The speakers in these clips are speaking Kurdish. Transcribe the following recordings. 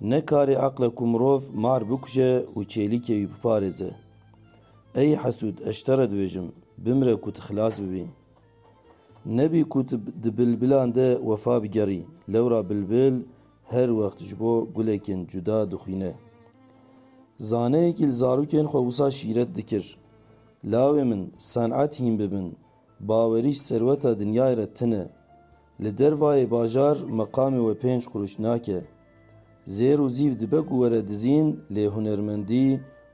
Ne karê eqle ku mirov mar bikuje û çêlîkê wî biparêze. Ey hesûd, ez ji te re dibêjim, bimire ku tu xilas bibî. Nebî ku tu di bilbilan de wefa bigerî, lewra bilbil her wext ji bo gulekên cuda dixwîne. Zaneyekî li zarokên xwe wisa şîret dikir, Lawê min, senet hîn bibin, Bawerî ji serweta dinyayê re tune. Li dervayê bajar meqamê we pênc qurûş nake. Zêr û zîv dibe ku were dizîn lê hunermendî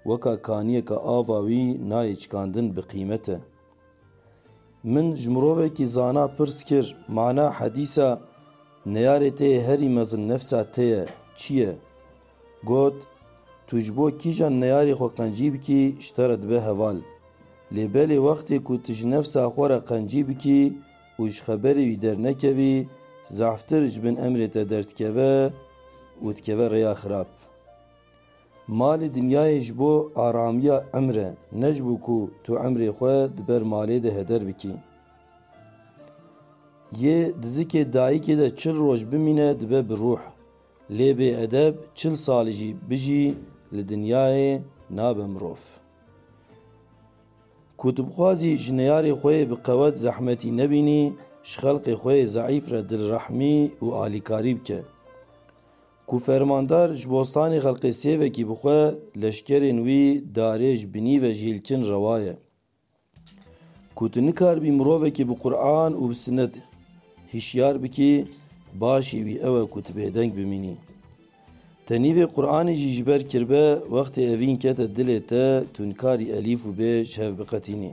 weka kaniyeka ava wî nayê çikandin bi qîmet e. Min ji mirovekî zana pirs kir, Mana hedîsa Neyarê te yê herî mezin nefsa te ye, çi ye? Got, Tu ji bo kîjan neyarê xwe qencî bikî ji te re dibe heval. Lê belê wextê ku tu ji nefsa xwe re qencî bikî û ji xeberê wî dernekevî, zeftir ji bin emrê te derdikeve û dikeve rêya xirab. Malê dinyayê ji bo aramiya emr e, ne ji bo ku tu emrê xwe di ber malê de heder bikî. Yê dizikê dayikê de çil roj bimîne dibe bi ruh. Lê bê edeb çil sal jî bijî li dinyayê nabe mirov. Ku tu bixwazî ji neyarê xwe yê bi qewet zehmetî nebînî, ji xelkê xwe yê zeîf re dilrehmî û alîkarî bike. Ku fermandar ji bostanê xelkê sêvekî bixwe, leşkerên wî darê ji binî ve ji hîlkin rewa ye. Ku tu nikarbî mirovekî bi Quran û bi sinet hişyar bikî, başî wî ew e ku tu bêdeng bimînî. Tenî vê Quranê jî ji ber kirbe, wextê evîn kete dilê te, tu nikarî elîf û bê ji hev biqetînî.